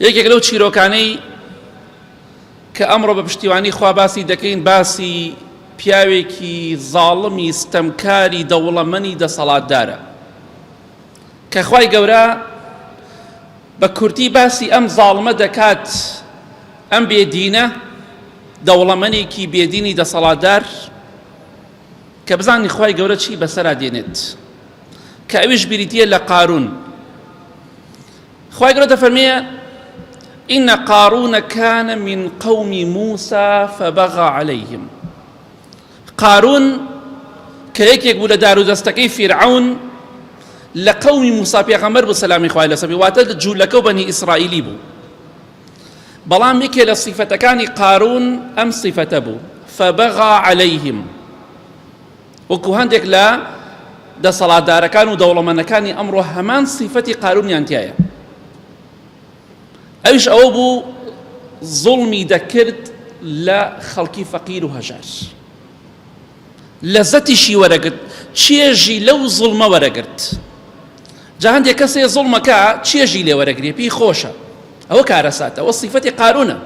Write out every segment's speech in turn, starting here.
یەکێک لەو چیرۆکانەی کە ئەمڕۆ بە پشتیوانی خوا باسی دەکەین باسی پیاوێکی زاڵمی ستەمکاری دەوڵەمەنی دەسەڵاتدارە کە خوای گەورە بە کورتی باسی ئەم زاڵمە دەکات ئەم بێدینە دەوڵەمەنێکی بێدینی دەسەڵاتدار کە بزانین خوای گەورە چی بەسەرا دێنێت کە ئەویش بریتە لە قارون خوای گەورە دەفەرمێ إن قارون كان من قوم موسى فبغى عليهم قارون کە یەکێک بوو لە دار و دەستەکەی فیرعون لە قومی موسا پێغەمبەر بوو سەلامی خوای لەسەر بێ واتە جوولەکە و بەنی ئیسرائیلی بوو بەڵام یەکێ لە سیفەتەکانی قارون ئەم سیفەتە بوو فبغى عليهم وەکو هەندێک لە دەسەڵاتدارەکان و دەوڵەمەندەکانی ئەمڕۆ هەمان سیفەتی قارونیان تیایە ئەویش ئەوە بوو زوڵمی دەکرد لە خەڵکی فەقیر و هەژار لەزەتیشی وەرەگرت چێژی لەو زوڵمە وەرەگرت جا هەندێک کەسێ زوڵمەکە چێژی لێ وەرەگرێ پێی خۆشە ئەوە کارەساتە ئەوە سیفەتی قارونە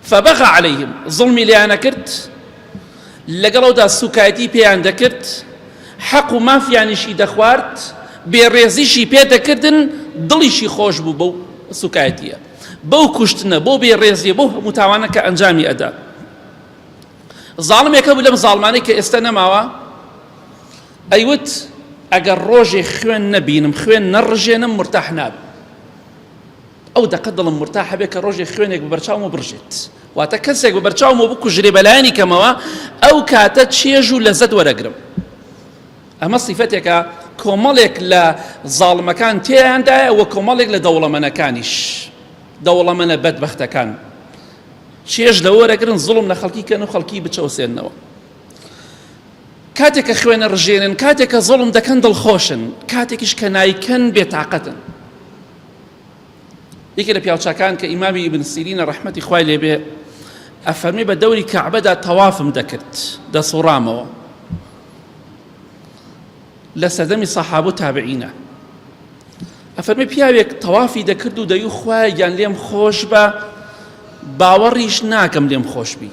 فبغی علیهم زوڵمی لێیان ئەکرد لەگەڵ ئەودا سوکایەتی پێیان دەکرد حەق و مافیانیشی دەخوارد بێڕێزیشی پێ دەکردن دڵیشی خۆش بوو بەو سوکایەتیە بەو کوشتنە بۆ بێڕێزیە بۆ هەموو تاوانە کە ئەنجامی ئەدا زاڵمێکە بوو لەم زاڵمانەی کە ئێستا نەماوە ئەیوت ئەگەر ڕۆژێ خوێن نەبینم خوێن نەڕژێنم مرتاح نابم ئەو دەقە دڵم مرتاح بێ کە ڕۆژێ خوێنێک بە بەرچاومەوە بڕژێت واتە کەسێک بە بەرچاومەوە بکوژرێ بەلایەنی کەمەوە ئەو کاتە چێژ و لەزەت وەرەگرم ئەمە سیفەتێکە کۆمەڵێک لە زاڵمەکان تێیاندایە وە کۆمەڵێک لە دەوڵەمەنەکانیش دەوڵەمەنە بەدبەختەکان چێژ لە وەرەگرن زڵم لە خەڵکی کەن و خەڵکی بچەوسێنەوە کاتێک کە خوێنە ڕژێنن کاتێک کە زڵم دەکەن دڵخۆشن کاتێکیش کە نایکەن بێتاقەتن یەکێ لە پیاوچاکان کە ئیمامی ئیبن سیرینە ڕەحمەتی خوای لێبێ ئەفەرمی بە دەوری کەعبەدا تەوافم دەکرد دەسوڕامەوە لە سەردەمی سەحاب و تابعینە ئەفەرمی پیاوێک تەوافی دەکرد و دەیو خوایان لێم خۆش بە باوەڕیش ناکەم لێم خۆشببی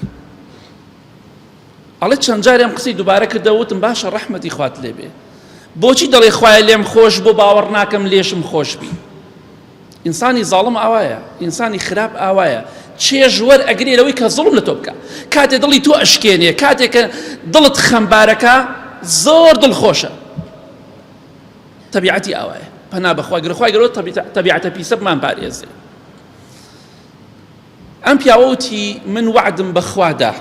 ئەڵێ چەند جاری ئەم قسەی دوبارە کردەوە وتم باشە ڕەحمەتی خوات لێ بێ بۆچی دەڵێ خوایە لێم خۆش بۆ باوەڕ ناکەم لێشم خۆش بی ئینسانی زاڵم ئاوایە ئینسانی خراپ ئاوایە چێژ وەر ئەگرێ لەوەی کە زڵم لە تۆ بکە کاتێ دڵی تۆ ئەشکێنێ کاتێک کە دڵت خەمبارەکە زۆر دڵ خۆشە تەبیعەتی ئاوایە پەنا بەخوا گرخوای گەرۆ تەبیعەتە پیسەبمان پارێزێ ئەم پیاوە وتی من وەعدم بەخوا دا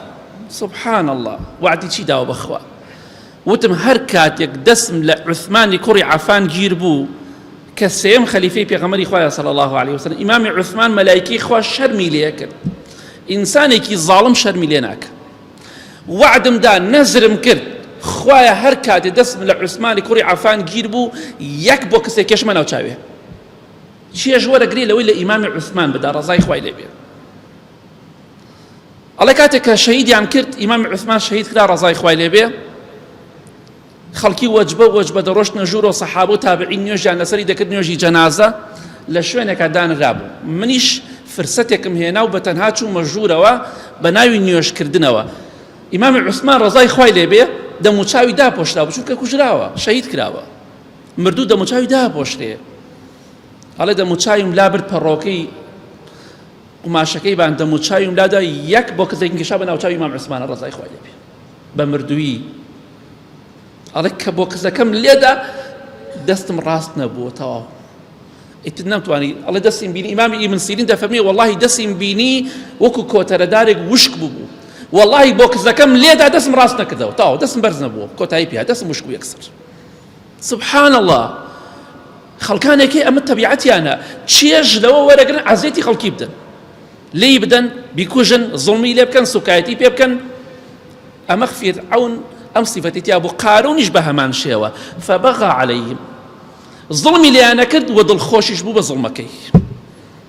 سبحان اللە وەعدی چی داوە بەخوا وتم هەر کاتێک دەسم لە عوسمانی کوڕی عەفان گیر بوو کە سێم خەلیفەی پێغەمەری خوایە صلی الله علیه وسلم ئیمامی عوسمان مەلایکی خوا شەرمی لێ کرد ئینسانێکی ظاڵم شەرمی لێ ناکە وعدم دا نەزرم کرد خوایە هەر کاتێ دەستم لە عوسمانی کوڕی عفان گیر بوو یەک بۆ کەسێک کێشمە ناوچاوێ چێژ وەرەگری لەوەی لە ئیمامی عوسمان بدا ڕزای خوای لێ بێت ئەڵێ کاتێک کە شەهیدیان کرد ئیمام عوسمان شەهید کرا ڕزای خوای لێ بێ خەڵکی وەجبە وەجبە دەڕۆشتنە ژوور و سەحاب و تابعی نوێژیان لەسەری دەکرد نوێژی جەنازە لە شوێنێکە دانرابوو منیش فرسەتێکم هێنا و بە تەنها چوومە ژوورەوە بە ناوی نوێژکردنەوە ئیمامی عوسمان ڕزای خوای لێ بێ دەموچاوی داپۆشرا بچووکە کوژراوە شەهید کراوە مردوو دەموچاوی داپۆشرێ هەڵێ دەموچاویم لا برد پەڕۆکەی قوماشەکەی بان دەموچاویم لادا یەک بۆ کەسێک گەشا بە ناوچوی مام عسمانە ڕزای خۆی لێبێ بە مردووی ئەڵێ کە بۆ کەسەکەم لێدا دەستم ڕاست نەبووە تەواو ئیتر نەمتوانی ئەڵێ دەستیم بینی ئیمامی ئیمن سیرین دەفەرمی وەڵی دەستیم بینی وەکو کۆتەرەدارێک وشک ببوو وەڵی بۆ کەسەکەم لێدا دەستم ڕاست نەکردەوە تاو دەستم بەرز نەبووە کۆتایی پیا دەستم وشک و یەکسەر سبحان اللە خەڵکانێک هەیە ئەمە تەبیعەتیانە چێژ لەوە وەرەگرن عەزێتی خەڵکی بدەن لێی بدەن بیکوژن زڵمی لێ بکەن سوکایەتی پێ بکەن ئەمە خفیر ئەون ئەم سیفەتی تیا بۆ قارونیش بە هەمان شێوە فبغا عليهم زڵمی لێیانە کرد و دڵخۆشیش بوو بە زڵمەکەی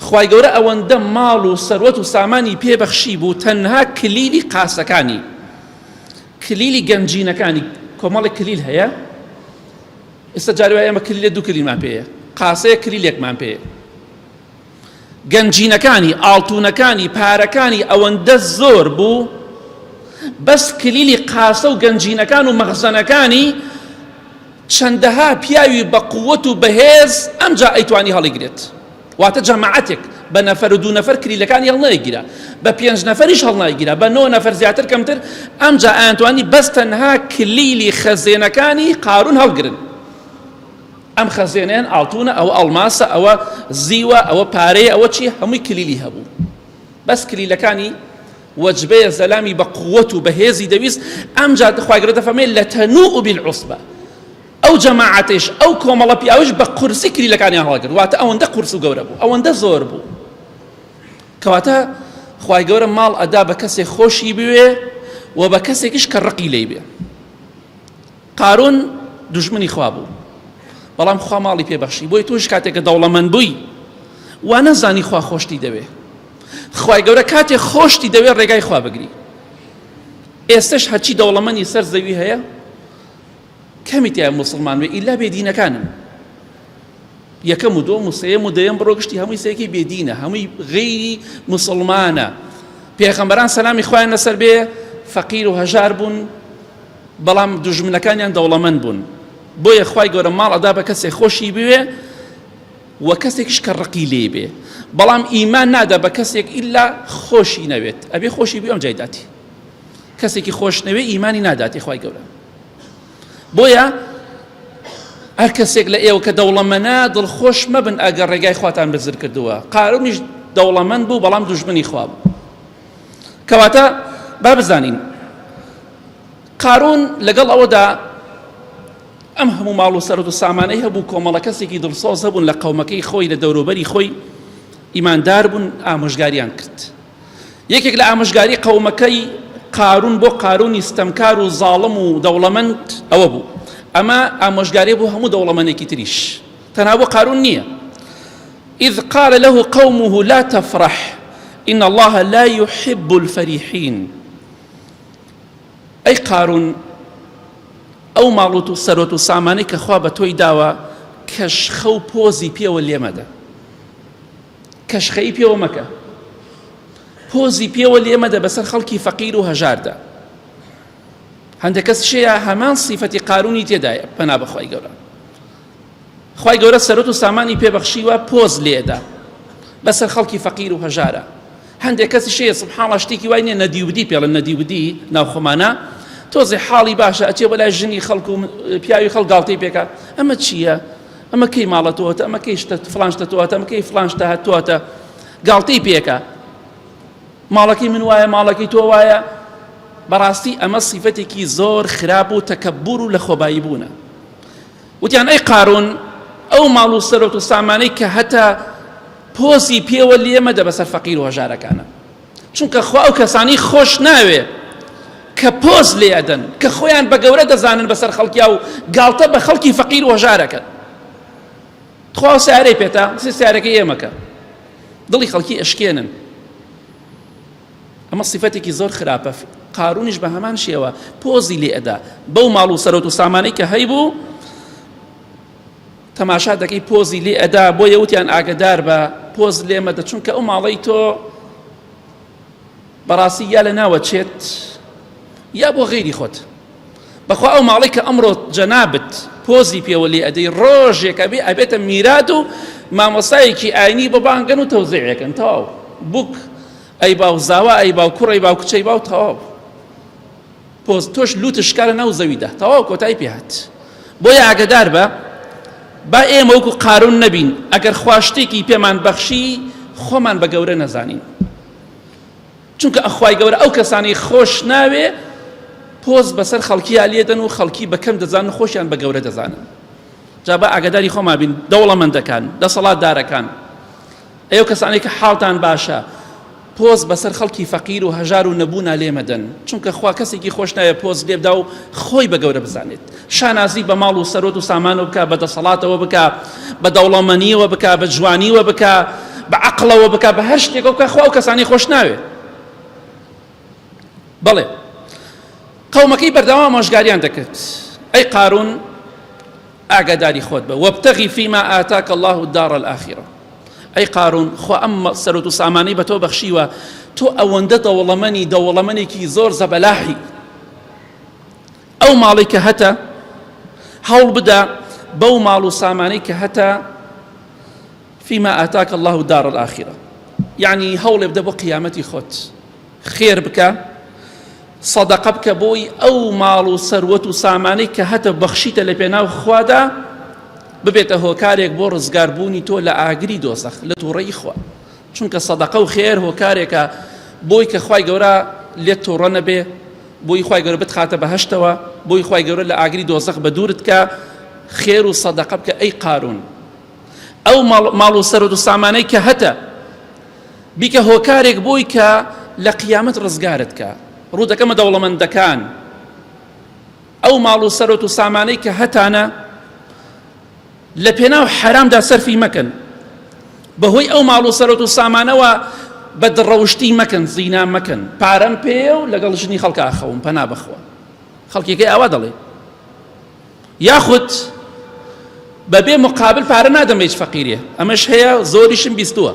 خوای گەورە ئەوەندە ماڵ و سەروەت و سامانی پێ بەخشی بوو تەنها کلیلی قاسەکانی کلیلی گەنجینەکانی کۆمەڵی کلیل هەیە ئێستا جاری وایە ئەمە کلیلە دوو کلیلمان پێەیە قاسەیە کلیلێکمان پێ گەنجینەکانی ئاڵتونەکانی پارەکانی ئەوەندە زۆر بوو بەس کلیلی قاسە و گەنجینەکان و مەغزەنەکانی چەندەها پیاوی بە قوت و بەهێز ئەمجا ئەیتوانی هەڵیگرێت واتە جەماعەتێک بە نەفەر و دوو نەفەر کلیلەکانی هەڵنایگیرا بە پێنج نەفەریش هەڵنایگیرا بە نۆ نەفەر زیاتر کەمتر ئەمجا ئەیانتوانی بەس تەنها کلیلی خەزێنەکانی قارون هەڵگرن ئەم خەزێنەیان ئاڵتونە ئەوە ئەڵماسە ئەوە زیوە ئەوە پارەیە ئەوە چی هەمووی کلیلی هەبوو بەس کلیلەکانی وجبەیە زەلامی بە قوت و بەهێزی دەویست ئەمجا خوای گەورە دەفەرمێ لە تەنوء بالعصبە ئەو جەماعەتش ئەو کۆمەڵە پیاوش بە قورسی کلیلەکانیان هەڵگرت واتە ئەوەندە قورس و گەورە بوو ئەوەندە زۆر بوو کەواتە خوای گەورە ماڵ ئەدا بە کەسێک خۆشی بوێ و بە کەسێکش کە ڕقی لی بێ قارون دوژمنی خوا بوو بەڵام خوا ماڵی پێ بەخشی بۆی تۆش کاتێکە دەوڵەمەند بووی وا نەزانی خوا خۆشتی دەوێ خوای گەورە کاتێ خۆشتی دەوێ ڕێگای خوا بگری ئێستش هەرچی دەوڵەمەنی سەر زەوی هەیە کەمی تیا مسلمان وێ ئیلا بێدینەکانن یەکەم و دۆم و سێم و دەیەم بڕۆ گشتی هەمووی سێکی بێدینە هەمووی غیری مسلمانە پێخەمبەران سەلامی خۆیان لەسەر بێ فەقیر و هەژار بوون بەڵام دوژمنەکانیان دەوڵەمەند بوون بۆیە خوای گەورە ماڵ ئەدا بە کەسێک خۆشی بوێ و کەسێکش کە ڕقی لێ بێ بەڵام ئیمان نادا بە کەسێک ئللا خۆشی نەوێت ئەبێ خۆشی بێ ئەم جایداتی کەسێکی خۆش نەوێ ئیمانی ناداتی خوای گەورە بۆیە هەر کەسێک لە ئێوە کە دەوڵەمەنە دڵخۆش مەبن ئەگەر ڕێگای خواتان بزر کردووە قارونیش دەوڵەمەند بوو بەڵام دوژمنی خواب کەواتە با بزانین قارون لەگەڵ ئەوەدا ئەم هەموو ماڵ و سەرد و سامانەی هەبوو کۆمەڵە کەسێکی دڵسۆز هەبوون لە قەومەکەی خۆی لە دەوروبەری خۆی ئیماندار بوون ئامۆژگاریان کرد یەکێک لە ئامۆژگاری قەومەکەی قارون بۆ قارونی ستەمکار و زاڵم و دەوڵەمەند ئەوە بوو ئەمە ئامۆژگاری بۆ هەموو دەوڵەمەنێکی تریش تەنها بۆ قارون نییە اذ قال له قومه لا تفرح ان اللە لا یحب الفریحین ئەی قارون ئەو ماڵ و سەرۆت و سامانەی کە خوا بە تۆی داوە کەشخە و پۆزی پێوە لێمەدە کەشخەی پێوە مەکە پۆزی پێوە لێمەدە بەسەر خەڵکی فەقیر و هەژاردا هەندێک کەس شەیە هەمان سیفەتی قارونی تێدایە پەنا بەخوای گەورە خوای گەورە سەرۆت و سامانی پێبەخشیوە پۆز لێدا بەسەر خەڵکی فەقیر و هەژارە هەندێک کەسی شەیە سبحاڵە شتێکی وای نیە نەدیودی پێڵە نەدیودی ناوخۆمانە تۆزی حاڵی باشە ئەچێ بەلای ژنی خەڵک و پیاوی خەڵ گاڵتەی پێکە ئەمە چییە؟ ئەمە کەی ماڵەتەوەتە ئەمە کەی شتە فلانشتە تۆاتە ئەمە کەی فلانشتە هەتواتە گاڵتەی پێکە ماڵەکەی من وایە ماڵەکەی تۆ وایە بەڕاستی ئەمە سیفەتێکی زۆر خراپ و تەکەبور و لە خۆبایی بوونە وتیان ئەی قارون ئەو ماڵ و سەرۆت و سامانەی کە هەتا پۆسی پێوە لێمەدە بەسەر فەقیر و هەژارەکانە چونکە خوا ئەو کەسانی خۆش ناوێ کە پۆز لێ ئەدەن کە خۆیان بە گەورە دەزانن بەسەر خەڵکیا و گاڵتە بە خەڵکی فەقیر وەژارەکەن تخوا سارەی پێتا سارەکە ئێمەکە دڵی خەڵکی ئەشکێنن ئەمە سیفەتێکی زۆر خراپە قارونیش بە هەمان شێوە پۆزی لێ ئەدا بەو ماڵ و سەرۆت و سامانەی کە هەیبوو تەماشا دەکەی پۆزی لێ ئەدا بۆ یەوتیان ئاگدار بە پۆز لێمەدە چونکە ئەو ماڵی تۆ بەڕاستی یا لە ناوە چێت یا بۆ غیری خۆت بەخوا ئەو ماڵی کە ئەمڕۆ جەنابت پۆزی پێوە لێ ئەدەی ڕۆژێکە بێ ئەبێتە میرات و مامۆستایەکی ئاینی بەبانگەن و تەوزێکن تەواو بوک ئەی باو زاوا ئەی باو کوڕ ئەی باو کچ ئەی باو تەواو پۆز تۆش لوتت شکا لە ناو زەویدا تەواو کۆتای پێهات بۆیە ئاگدار بە با ئێمە وەکو قارون نەبین ئەگەر خواشتێکی پێمان بەخشی خۆمان بە گەورە نەزانین چونکە ئەخوای گەورە ئەو کەسانی خۆش ناوێ پۆز بەسەر خەڵکییا لێدەن و خەڵکی بەکەم دەزان و خۆشیان بە گەورە دەزانن جا بە ئاگداری خۆما بین دەوڵەمەندەکان دەسەڵاتدارەکان ئێوە کەسانێک کە حاڵتان باشە پۆز بەسەر خەڵکی فەقیر و هەژار و نەبوونا لێ مەدەن چونکە خوا کەسێکی خۆش ناوێ پۆز لێبدا و خۆی بە گەورە بزانێت شانازی بە ماڵ و سەرۆت و سامانەوە بکە بە دەسەڵاتەوە بکە بە دەوڵەمەنیەوە بکە بە جوانیوە بکە بە عقلەوە بکە بە هەر شتێکەوە بکە خوا و کەسانی خۆش ناوێ بەڵێ قەومەکەی بەردەوام مۆژگاریان دەکرد ئەی قارون ئاگاداری خۆت بە، وابتغی فیما آتاک اللە الدار الآخرە، ئەی قارون خوا ئەم سەرۆت و سامانەی بە تۆ بەخشیوە تۆ ئەوەندە دەوڵەمەنی دەوڵەمەنێکی زۆر زەبەلاحی ئەو ماڵی کە هەتە هەوڵ بدە بەو ماڵ و سامانەی کە هەتە فيما آتاك الله دار الآخرة یعنی هەوڵێ بدە بۆ قیامەتی خۆت خێر بکە صدقە بکە بۆی ئەو ماڵ و سەروەت و سامانەی کە هەتە بەخشیتە لە پێناو خوادا ببێتە هۆکارێک بۆ ڕزگاربوونی تۆ لە ئاگری دۆزەخ لە تووڕەی خوا چونکە صدقە و خێر هۆکارێکە بۆی کە خی گەورە لێت تۆڕە نەبێ بۆی خی گەورە بتخاتە بەهشتەوە بۆی خی گەورە لە ئاگری دۆزەخ بە دوورت کە خێر و صدقە بکە ئەی قارون ئەو ماڵ و سەرۆت و سامانەی کە هەتە بیکە هۆکارێک بۆی کە لە قیامەت ڕزگارت کە ڕوو دەکەمە دەوڵەمەندەکان ئەو ماڵ و سەرۆت و سامانەی کە هەتانە لە پێناو حرامدا سەرفی مەکەن بەهۆی ئەو ماڵ و سەرۆت و سامانەوە بە دڕەوشتی مەکەن زینا مەکەن پارەم پێ و لەگەڵ ژنی خەڵکە ئاخەوم پەنا بخوا خەڵکیەکەی ئاوا دەڵێ یاخود بەبێ مقابل پارە نادەم لە هیچ فەقیرێ ئەمەش هەیە زۆریشم بیستووە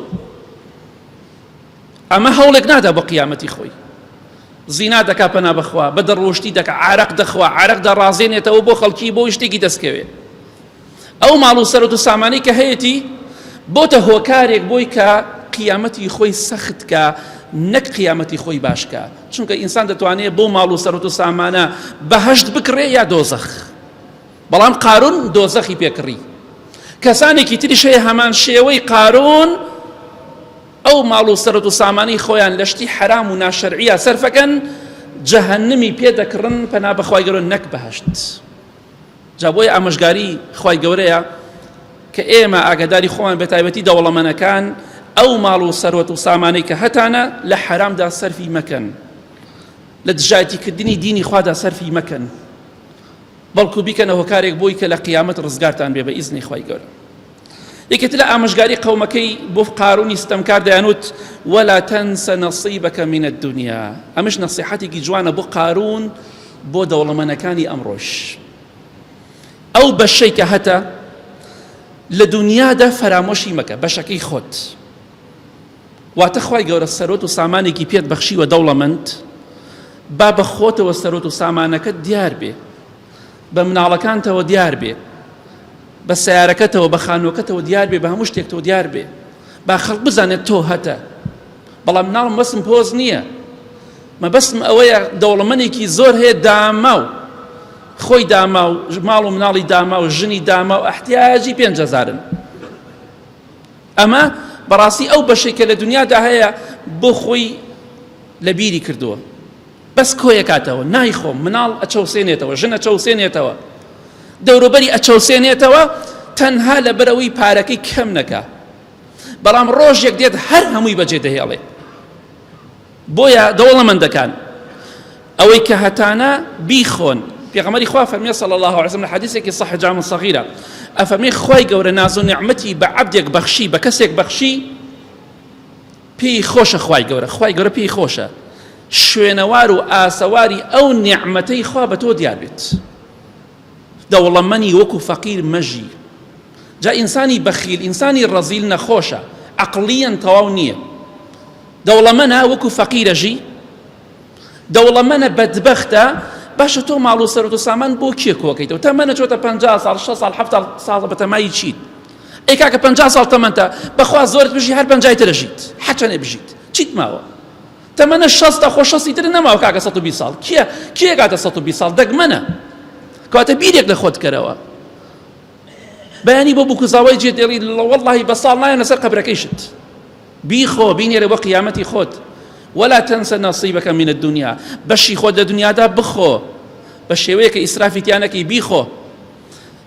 ئەمە هەوڵێک نادا بۆ قیامەتی خۆی زینا دەکا پەنا بخوا بە دەڕۆشتی دەکە عراق دەخوا عراق دەڕازێنێتەوە بۆ خەڵکی بۆ شتێکی دەستکەوێ ئەو ماڵ و سەرەت و سامانی کە هەیەی بۆتە هۆکارێک بۆی کە قیامەتی خۆی سەختکە نەک قیامەتی خۆی باشکە چونکە ئینسان دەتوانێت بۆ ماڵ و سەرەت و سامانە بەهشت بکڕێ یا دۆزەخ بەڵام قارون دۆزەخی پێکڕی کەسانێکی تریش هەیە هەمان شێوەی قارون ئەو ماڵ و سەرەت و سامانی خۆیان لە شتی حرام و ناشەرعە سەرفەکەن جەهنمی پێ دەکڕن پەنا بەخوای گەرۆ نەک بەهشت. جا بۆیە ئامۆژگاری خوای گەورەیە کە ئێمە ئاگاداری خۆمان بەتایبەتی دەوڵەمەنەکان ئەو ماڵ و سەرۆت و سامانەی کە هەتانە لە حرامدا سەرفی مەکەن لە دژایەتیکردنی دینی خوادا سەرفی مەکەن بەڵکو بیکەنە هۆکارێک بۆی کە لە قیامەت ڕزگارتان بێ بە ئیزنی خی گەورە یەکێتی لە ئامۆژگاری قەومەکەی بۆ قارونی ستەمکار دەیانوت وەلا تەنسە نەسیبەکە منە دنیا ئەمش نەسیحەتێکی جوانە بۆ قارون بۆ دەوڵەمەنەکانی ئەمڕۆش ئەو بەشەی کە هەتە لە دنیادا فەرامۆشی مەکە بەشەکەی خۆت واتە خی گەورە سەرۆت و سامانێکی پێت بەخشیوە دەوڵەمەند با بە خۆتەوە سەرۆت و سامانەکە دیار بێ بە مناڵەکانتەوە دیار بێ بە سیارەکەتەوە بە خانووەکەتەوە دیار بێ بە هەموو شتێکتەوە دیار بێ با خەڵک بزانێت تۆ هەتە بەڵام ناڵم بەسم پۆز نییە مەبەستم ئەوەیە دەوڵەمەنێکی زۆر هەیە داماو خۆی داما و ماڵ و مناڵی داما و ژنی داما و ئەحتیاجی پێنجهزارن ئەمە بەڕاستی ئەو بەشێکە لە دنیادا هەیە بۆ خۆی لە بیری کردووە بەس کۆیەکاتەوە نایخۆم مناڵ ئەچەوسێنێتەوە ژن ئەچەوسێنێتەوە دەوروبەری ئەچەوسێنێتەوە تەنها لەبەرەوەی پارەکەی کەم نەکا بەڵام ڕۆژێک دێت هەر هەمووی بەجێ دەهێڵێ بۆیە دەوڵەمەندەکان ئەوەی کە هەتانە بیخۆن پێغەمەری خوا فەرمی صلی الله عليه وسلم لە حدیثێکی صح جام صغیرە ئەفەرمی خوای گەورە ناز و نعمەتی بە عەبدێک بەخشی بە کەسێک بەخشی پێی خۆشە خوای گەورە خوای گەورە پێی خۆشە شوێنەوار و ئاسەواری ئەو نیعمەتەی خوا بە تۆ دیار بێت دەوڵەمەنی وەکو فەقیر مەژی جا ئینسانی بەخیل ئینسانی ڕەزیل نەخۆشە عقلیەن تەواو نییە دەوڵەمەە وەکو فەقیرەژی دەوڵەمەنە بەدبەختە باشە تۆ ماڵ و سەرۆت و سامان بۆ کێ کۆکەیتەوە تەمەنە چۆتە پ ساڵ 6 ساڵ ه ساڵ بەتەمای چیت ئەی کاکە پ ساڵ تەمەتە بەخوا زۆرت بژی هەر پنجای ترەژیت حەچەنێ بژیت چیت ماوە تەمەە شەستە خۆ شەستی تر نەماوە کاکە 120 ساڵ کیە کێکاتە 120 ساڵ دەگمەنە کاتە بیرێک لە خۆت کەرەوە بەیانی بۆ بکوزاوای جێ دێڵی لە وەڵی بە ساڵ نایە لەسەر قەبرەکەیشت بیخۆ بینێرە بۆ قیامەتی خۆت ولا تنسى نصيبك من الدنيا بەشی خۆت لە دنیادا بخۆ بە شێوەیەکە ئیسرافیتیانەکەی بیخۆ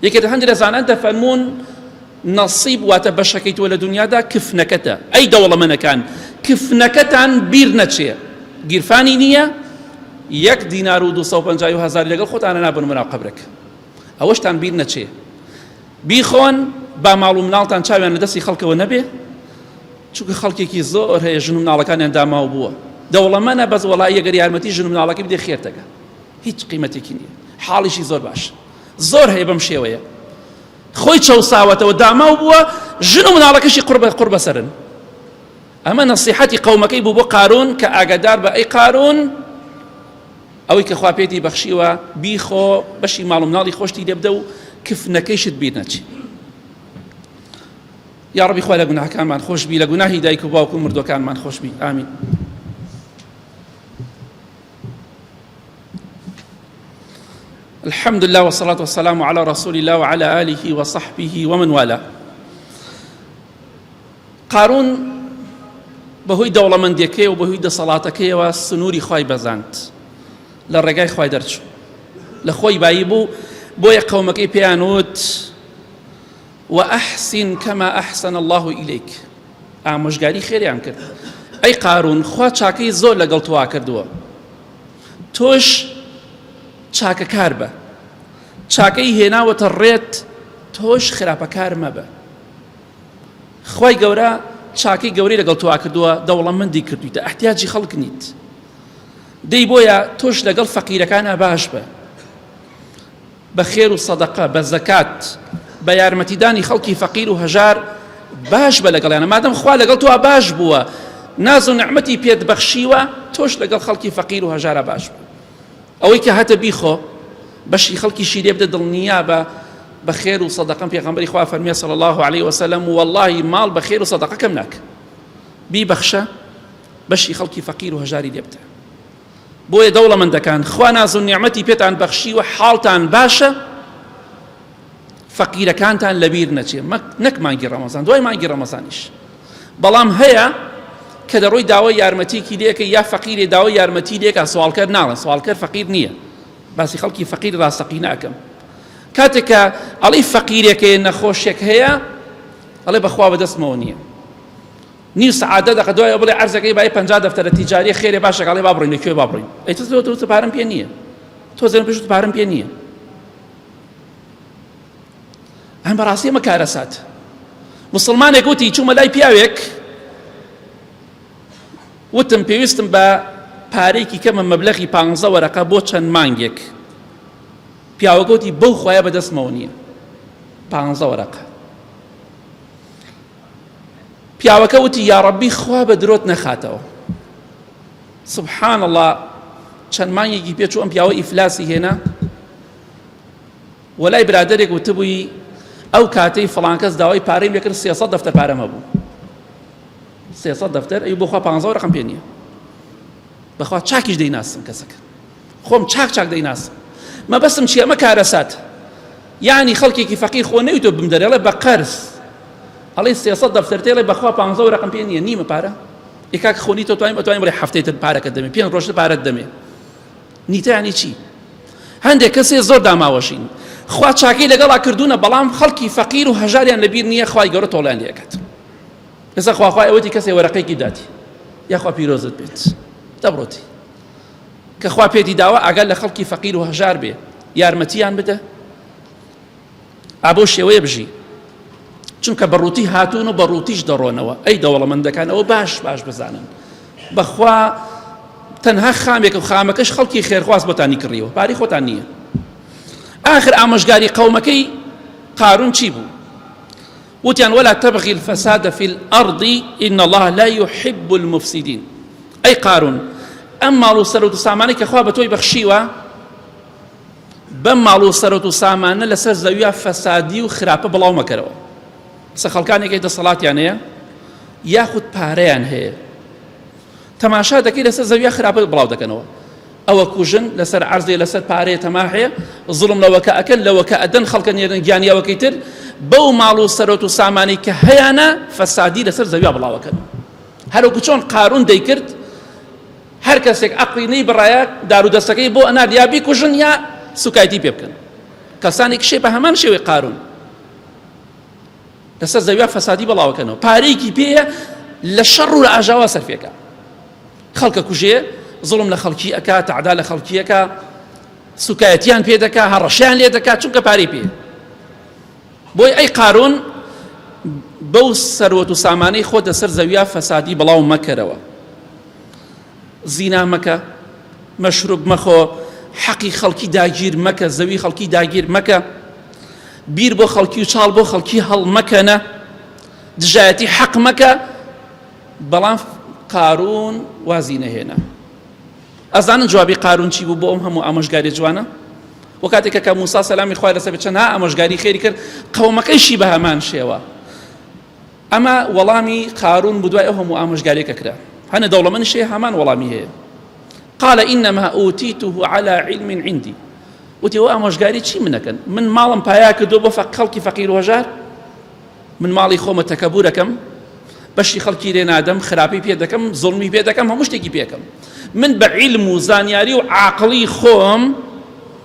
یەکێت هەندێک لە زانان دەفەرمونون نەسیب واتە بەشەکەی تۆ لە دنیادا کفنەکەتە ئەی دەوڵەمەنەکان کفنەکەتان بیر نەچێ گیرفانی نییە یەک دینار و 250 هزار لەگەڵ خۆتانە نابن مناو قبرەکە ئەوەشتان بیر نەچێ بیخۆن با ماڵ و مناڵتان چاویان لە دەستی خەڵکەوە نەبێ چونکە خەڵکێکی زۆر هەیە ژن و مناڵەکانیان داماو بووە دەوڵەمەە بەس وڵی گەر یارمەتی ژن و مناڵەکە بدێ خێرتەکە هیچ قیمەتێکی نییە حاڵیشی زۆر باش زۆر هەیە بەم شێوەیە خۆی چەساوەتەوە داماو بووە ژن و مناڵەکەشی قڕ بە قڕ بەسەرن ئەمە نەسیحەتی قەومەکەی بوو بۆ قارون کە ئاگادار بە ئەی قارون ئەوەی کە خوا پێتی بەخشیوە بیخۆ بەشی ماڵ و مناڵی خۆشتی لێبدە و کفنەکەیشت بیر نەچی یا ڕبی خوا لە گوناهەکانمان خۆشببی لە گوناهی دایک و باوکو مردوەکانمان خۆشببی ئامین الحمد لله والصلاة والسلام على رسول الله وعلى آله وصحبه ومن والاه قارون بەهۆی دەوڵەمەندیەکەی و بەهۆی دەسەڵاتەکەیەوە سنووری خی بەزاند لە ڕێگای خی دەرچوو لە خۆی بایی بوو بۆیە قەومەکەی پێیان وت وأحسن كما أحسن الله إليك ئامۆژگاری خێریان کرد ئەی قارون خوا چاکەی زۆر لەگەڵ توا کردووە تۆش چاکەکار بە چاکەی هێناوەتە ڕێت تۆش خراپەکار مەبە خوای گەورە چاکەی گەورەی لەگەڵ تۆوا کردووە دەوڵەمەندی کردویتە ئەحتیاجی خەڵک نیت دەی بۆیە تۆش لەگەڵ فەقیرەکانە باش بە بە خێر و سەدەقە بە زەکات بە یارمەتیدانی خەڵکی فەقیر و هەژار باش بە لەگەڵیانە مادەم خوا لەگەڵ تۆوا باش بووە ناز و نعممەتی پێت بەخشیوە تۆش لەگەڵ خەڵکی فەقیر و هەژارە باش بوو ئەوەی کە هەتە بیخۆ بەشی خەڵکیشی لێ بدە دڵنیابە بە خێر و سەدەقەم پێغەمبەری خوا فەرمیێ صلی الله عليه وسلم و واللهی ماڵ بە خێر و سەدەقەکەم ناک بیبەخشە بەشی خەڵکی فەقیر و هەژاری لێ بدە بۆیە دەوڵەمەندەکان خوا ناز و نیعمەتی پێتان بەخشی و حاڵتان باشە فەقیرەکانتان لەبیر نەچێ نەک مانگی ڕەمەزان دوای مانگی ڕەمەزانیش بەڵام هەیە کە دەڕۆی داوای یارمەتیکی لێکە یا فەقیرێ داوای یارمەتی لێکە سوالکەر ناڵێن سوالکەر فەقیر نییە باسی خەڵکی فەقیر ڕاستەقی ناکەم کاتێکە ئەڵی فەقیرێکەیە نەخۆشێک هەیە ئەڵێ بەخوا بەدەستمەوە نییە نیو سعادە دەقە دوای بڵێ ئەرزەکەی بای پ دەفتەرە تیجاری خێرێ باشەکەڵێ بابڕین لەکوێ بابڕین ئەیتەوە پارم پێ نییە تۆ زەن پێش پارم پێ نییە ئەم بەڕاستی ئەمە کارەسات مسلمانێک وتی چوومە لای پیاوێک وتم پێویستم بە پارێکی کەمە مەبلەغی پ وەرەقە بۆ چەند مانگێک پیاوەگوتی بەو خۆیان بەدەستمەوە نییە پ وەرەقە پیاوەکە وتی یاڕەبی خوا بە درۆت نەخاتەوە سبحان الله چەند مانگێکی پێچوو ئەم پیاوە ئیفلاسی هێنا وەلای برادێک وتبووی ئەو کاتەی فڵانکەس داوای پارەی لەکرد سێسە دەفتە پارەمە بوو سێسە دەفتەر ئەی بخوا پ ڕقم پێ نییە بەخوا چاکیش دەیناسم کەسەکە خۆم چاک چاک دەیناسم مەبەستم چیە ئەمە کارەسات یعنی خەڵکێکی فەقیر خۆ نەویتۆ بم دەرێڵێ بە قەرز ئەڵێ سێسە دەفتەرتێڵێ بەخوا پ ڕقم پێ نییە نیمە پارە یکاک خۆنی تۆ توانیم توانیم بڵێ هەفتەی تر پارەکە دەمێ پێ ڕۆژتە پارەت دەمێ نیتانی چی هەندێک کەسێ زۆر داماوەشین خوا چاکی لەگەڵا کردوونە بەڵام خەڵکی فەقیر و هەژاریان لەبیر نییە خخوای گەورە تۆڵیان لەکەت ئێستا خواخوای ئەوەتی کەسێ وەرەقێکی داتی یاخوا پیرۆزت بێت دەبڕۆتی کە خوا پێتی داوە ئاگا لە خەڵکی فەقیر و هەژار بێ یارمەتیان بدە ئابۆ شێوەیە بژی چونکە بەڕووتی هاتوون و بەڕووتیش دەڕۆنەوە ئەی دەوڵەمەندەکانەوە باش باش بزانن بەخوا تەنها خامێک و خامەکەش خەڵکی خێرخواز بۆتانی کڕیوە پاری خۆتان نییە آخر ئامۆژگاری قەومەکەی قارون چی بوو وتیان ولا تبغی الفساد فی الارض ان الله لا یحب المفسدین ئەی قارون ئەم ماڵ و سەرۆت و سامانەی کە خوا بە تۆی بەخشیوە بەم ماڵ و سەرۆت و سامانە لەسەر زەویا فەسادی و خراپە بڵاو مەکەرەوە سە خەڵکانێکی دەسەڵاتیان هەیە یاخود پارەیان هەیە تەماشا دەکەی لەسەر زەویا خراپە بڵاو دەکەنەوە ئەوە کوژن لەسەر عەرزێ لەسەر پارەیە تەماحێ زوڵم لەوەکە ئەکەن لەوەکە ئەدەن خەڵکە نێرن گیانی ئەوەکەی تر بەو ماڵ و سەرۆت و سامانی کە هەیانە فەسادی لەسەر زەویا بڵاوەکەن هەروکو چۆن قارون دەیکرد هەر کەسێک عقلی نەی بڕایە دارو دەستەکەی بۆ ئەنار یا بیکوژن یا سوکایتی پێ بکەن کەسانی کشێ بە هەمان شێوەی قارون لەسەر زەویا فەسادی بەڵاوەکەنەوە پارەیەکی پێیە لە شەڕ و لە ئاژاوا سەرفێکە خەڵکە کوژێ زڵم لە خەڵکی ئەک تەعدا لە خەڵکیەکە سوکایەتیان پێ دەکا هەڕەشیان لێ دەکات چونکە پارەی پێ بۆی ئەی قارون بەو سەروەت و سامانەی خۆ دەسەر زەویا فەسادی بڵاو مەکەرەوە زینا مەکە، مەشروب مەخۆ، حەقی خەڵکی داگیر مەکە، زەوی خەڵکی داگیر مەکە، بیر بۆ خەڵکی و چاڵ بۆ خەڵکی هەڵمەکەنە، دژایەتی حەق مەکە، بەڵام قارون وازی نەهێنا. ئەزانن جوابی قارون چی بوو بۆ ئەم هەموو ئامۆژگاری جوانە؟ و کاتێکە کە موسا سەلامی خوای لەسەر بچەنها ئامۆژگاری خێری کرد قەومەکەیشی بە هەمان شێوە ئەمە وەڵامی قارون بو دوای ئەو هەموو ئامۆژگاریە کە کرا هەنە دەوڵەمەنیش هەیە هەمان وەڵامی هەیە قال انما اوتیته على علم عندي وتی ئەو ئامۆژگاری چی منەکەن من ماڵم پایا کردو بۆ فە خەڵکی فەقیر وهژار من ماڵی خۆمە تەکەبورەکەم بەشی خەڵکی لێ نادەم خراپی پێ دەکەم زڵمی پێ دەکەم هەموو شتێکی پێکەم من بە عیلم و زانیاری و عاقڵی خۆم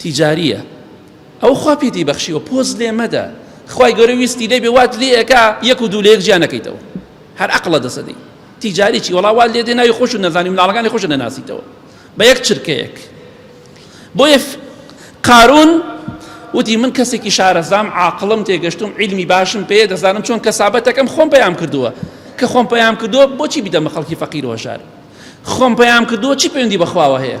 تیجاریە ئەو خوا پێتی بەخشیوە پۆز لێ مەدە خوای گەورە ویستی لێبێ وات لێ ئەکا یەک و دوو لە یەک جیا نەکەیتەوە هەر عەقڵە دەسە دەی تیجاری چی وەڵا وات لێ دێ ناوی خۆشت نەزانی مناڵەکانی خۆشت نەناسیتەوە بە یەک چرکەیەک بۆیە قارون وتی من کەسێکی شارەزام عاقڵم تێگەشتم علمی باشم پێ دەزانم چۆن کەسابەتەکەم خۆم پەیام کردووە کە خۆم پەیام کردووە بۆچی بدەمە خەڵکی فەقیر و هەژار خۆم پەیام کردووە چی پەیوەندی بەخواوە هەیە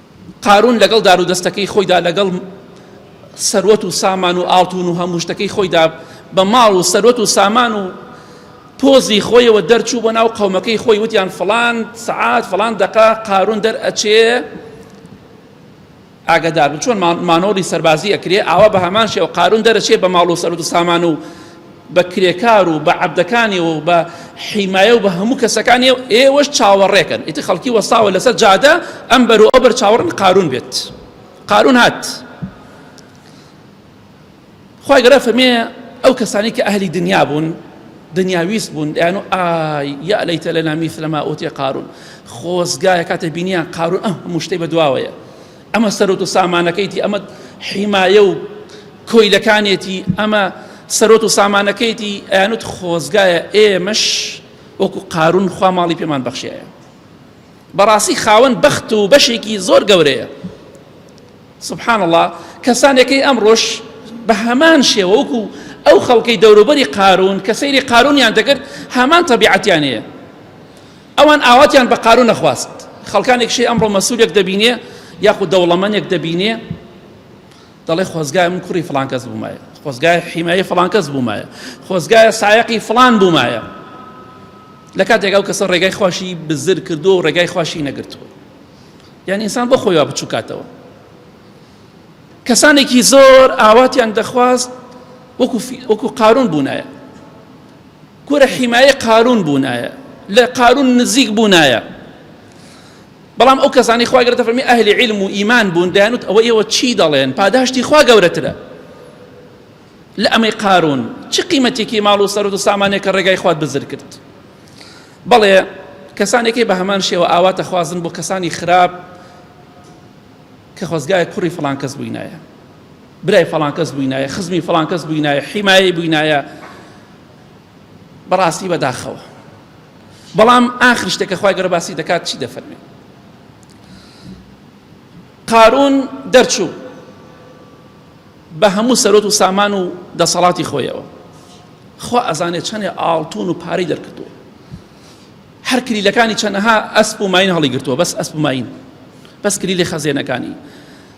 قارون لەگەڵ دار و دەستەکەی خۆیدا لەگەڵ سەروەت و سامان و ئاڵتون و هەموو شتەکەی خۆیدا بە ماڵ و سەروەت و سامان و پۆزی خۆیەوە دەرچوو بۆ ناو قەومەکەی خۆی وتیان فلان سعات فلان دەقا قارون دەر ئەچێ ئاگدار بن چۆن مانۆری سەربازی ئەکرێ ئاوا بە هەمان شێوە قارون دەرەچێ بە ماڵ و سەرت و سامان و بە کرێکار و بە عەبدەکانیەوە و بە حیمایە و بە هەموو کەسەکانی ئێوەش چاوەڕێکەن ئیتر خەڵکی وەستاوە لەسەر جادە ئەم بەر و ئەو بەر چاوەڕن قارون بێت قارون هات خی گەرە فەرمێ ئەو کەسانی کە ئەهلی دنیا بوون دنیاویست بوون دەیان و ئایا لەیتە لە نامیثلەما ئۆتێ قارون خۆزگایە کاتە بینیان قارون ئەم هەموو شتەی بە دواوەیە ئەمە سەرۆت و سامانەکەیتی ئەمە حیمایە و کۆیلەکانێتی ئەمە سەرۆت و سامانەکەیتی ئەیانوت خۆزگایە ئێمەش وەکو قارون خوا ماڵی پێمان بەخشایە بەڕاستی خاوەن بەخت و بەشێکی زۆر گەورەیە سبحان الله کەسانێکی ئەم ڕۆژ بە هەمان شێوە وەکو ئەو خەڵکەی دەوروبەری قارون کە سەیری قارونیان دەکرد هەمان تەبیعەتیانەیە ئەوان ئاواتیان بە قارو نەخواست خەڵکانێکشی ئەمڕۆ مەسولێک دەبینێ یاخود دەوڵەمەنێک دەبینێ دەڵێ خۆزگای من کوڕی فلان کەس بوومایە خۆزگای حیمایی فلان کەس بوومایە خۆزگایە سایقی فلان بوومایە لە کاتێک ئەو کەسە ڕێگای خوۆشی بزر کردو و ڕێگای خوۆشی نەگرتووە یان ئینسان بۆ خۆیوا بچووکاتەوە کەسانێکی زۆر ئاواتیان دەخواست وەکو قارون بوونایە کورە حیمایەی قارون بونایە لە قارون نزیک بونایە بەڵام ئەو کەسانی خوا گەرتە فەرمی ئەهلی علم و ئیمان بوون دەیانوت ئەوە ئێوە چی دەڵێن پاداشتی خوا گەورەترە لە ئەمەی قارون چ قیمەتێکی ماڵ و سەرت و سامانێک کە ڕێگای خوات بزر کرد بەڵێ کەسانێکی بە هەمان شێوە ئاواتە خوازن بۆ کەسانی خراپ کە خۆزگایە کوڕی فلان کەس بووینایە برای فلان کەس بووینایە خزمی فلان کەس بووینایە حیمایە بووینایە بەڕاستی بەداخەوە بەڵام ئاخر شتێکە خخوای گەرە باسی دەکات چی دەفەرمێ قارون دەرچوو بە هەموو سەرۆت و سامان و دەسەڵاتی خۆیەوە خوا ئەزانێت چەندێ ئاڵتون و پارەی دەرکردووە هەر کلیلەکانی چەنەها ئەسپ و ماین هەڵی گرتووە بەس ئەسپ ماین بەس کلیلی خەزێنەکانی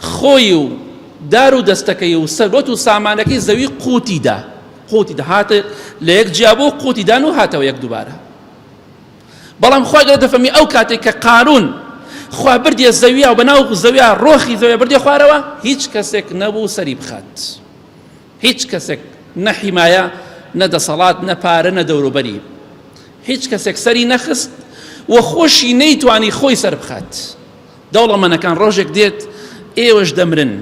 خۆی و دار و دەستەکەی و سەروەت و سامانەکەی زەوی قوتی دا قوتی دا هاتە لە یەک جیا بۆ قوتی دان و هاتەوە یەک دوبارە بەڵام خوا گەرە دەفەمی ئەو کاتێک کە قارون خوا بردیە زەویا و بەناو زەویا ڕۆخی زەوێ بردێ خوارەوە هیچ کەسێک نەبوو سەری بخات هیچ کەسێک نە حیمایە نە دەسەڵات نە پارە نە دەوروبەری هیچ کەسێک سەری نەخست و خۆشی نەیتوانی خۆی سەر بخات دەوڵەمەنەکان ڕۆژێک دێت ئێوەش دەمرن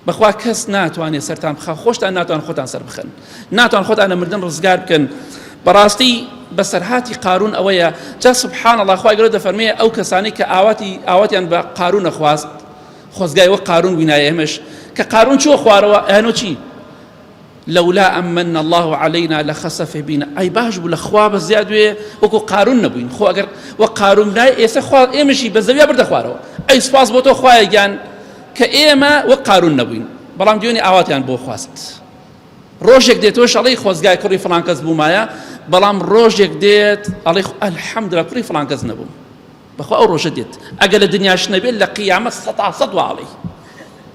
بەخوا کەس ناتوانێت سەرتان بخە خۆشتان ناتوان خۆتان سەر بخەن ناتوان خۆتان لە مردن ڕزگار بکەن بەڕاستی بەسەرهاتی قارون ئەوەیە جا سبحان الله خخوای گەۆ دەفەرمێ ئەو کەسانی کە ئاواتی ئاواتیان بە قارون نەخواست خۆزگای وە قارون بینایە ئێمەش کە قارون چۆ خوارەوە ئەنۆچی لولا ان من اللە علینا لخسف بنا ئای باش بوو لە خوا بە زیاد وێ وەکو قارون نەبووین خۆ ئەگەر وە قارون نای ئێستا خوا ئێمەشی بە زەویا بردە خوارەوە ئەی سپاس بۆ تۆ خوایە گیان کە ئێمە وە قارون نەبووین بەڵام دوێنێ ئاواتیان بۆ خواست ڕۆژێک دێت تۆش ئەڵی خۆزگای کوڕی فلان کەس بوومایە بەڵام ڕۆژێک دێت ئەڵی ئەلحەمدرا کوڕی فلان کەس نەبووم بەخوا ئەو ڕۆژە دێت ئەگەر لە دنیاش نەبێت لە قیامەت سە تا سەد واڵی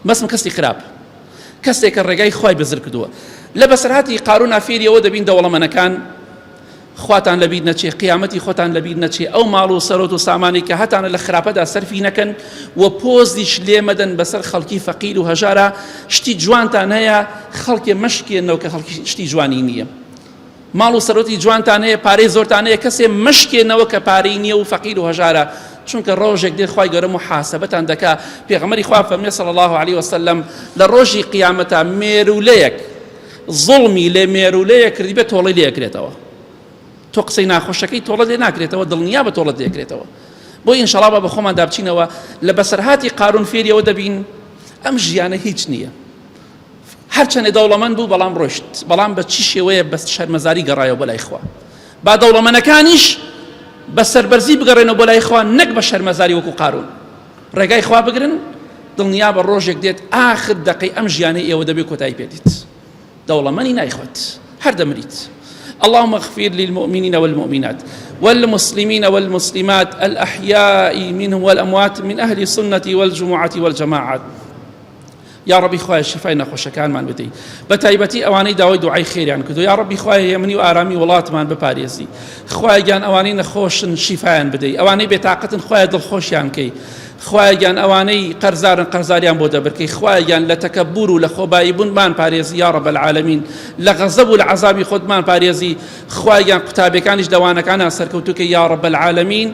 بەسم کەسی خراپ کەسێکە ڕێگای خی بەزر کردووە لە بەسەرهاتی قارون ئافێریەوە دەبین دەوڵەمەنەکان خواتان لەبییر نەچێ قیامەتی خۆتان لەبییر نەچێ ئەو ماڵ و سەرۆت و سامانی کە هەتانە لە خراپەدا سەرفی نەکەن و پۆزیش لێمەدەن بەسەر خەڵکی فەقیر و هەژارە شتی جوانتان هەیە خەڵکێ مەشکێنەوە کە خەڵکی شتی جوانی نییە. ماڵ و سەرۆتی جوانتان هەیە پارەی زۆرتان هەیە کەسێ مەشکێنەوە کە پارەی نییە و فەقیر و هەژارە چونکە ڕۆژێک دێ خوای گەورە محاسبەتان دەکا پێغەمەری خوا فەرمێ صلی الله علیه وسلم لە ڕۆژی قیامەتا مێرولەیەک ظڵمی لێ مێرولەیە کردی بێ تۆڵی لێکرێتەوە تۆ قسەی ناخۆشەکەی تۆڵە لێ ناکرێتەوە دڵنیا بە تۆڵت لێکرێتەوە بۆ ئینشەڵا بە خۆمان دابچینەوە لە بەسەرهاتی قارون فێریەوە دەبین ئەم ژیانە هیچ نییە هەرچەندە دەوڵەمەند بوو بەڵام ڕۆشت بەڵام بە چی شێوەیە بەست شەرمەزاری گەڕایەوە بۆ لای خوا با دەوڵەمەنەکانیش بە سەربەرزی بگەڕێنەوە بۆ لای خوا نەک بە شەرمەزاری وەکو قارون ڕێگای خوا بگرن دڵنیا بە ڕۆژێک دێت ئاخر دەقەی ئەم ژیانەی ئێوە دەبێت کۆتایی پێدیت دەوڵەمەنی نایخوت هەر دەمریت اللهم اغفر للمؤمنين والمؤمنات والمسلمين والمسلمات الأحياء منهم والأموات من أهل السنة والجمعة والجماعات یاڕەبی خوایە شیفای نەخۆشەکانمان بدەی بە تایبەتی ئەوانەی داوای دوعای خێریان کردو یاڕەبی خوایە هێمنی و ئارامی وڵاتمان بپارێزی خوایگیان ئەوانەی نەخۆشن شیفایان بدەی ئەوانەی بێتاقەتن خوایە دڵخۆشیان کەی خوایگیان ئەوانەی قەرزارن قەرزاریان بۆ دەبرکەی خوایگیان لە تەکەبور و لە خۆبایی بوونمان پارێزی یا ڕەب العالمین لە غەزەب و لە عەزابی خۆتمان پارێزی خوایگیان قوتابەکانیش دەوانەکانە سەرکەوتوکە یا ڕەب العالمین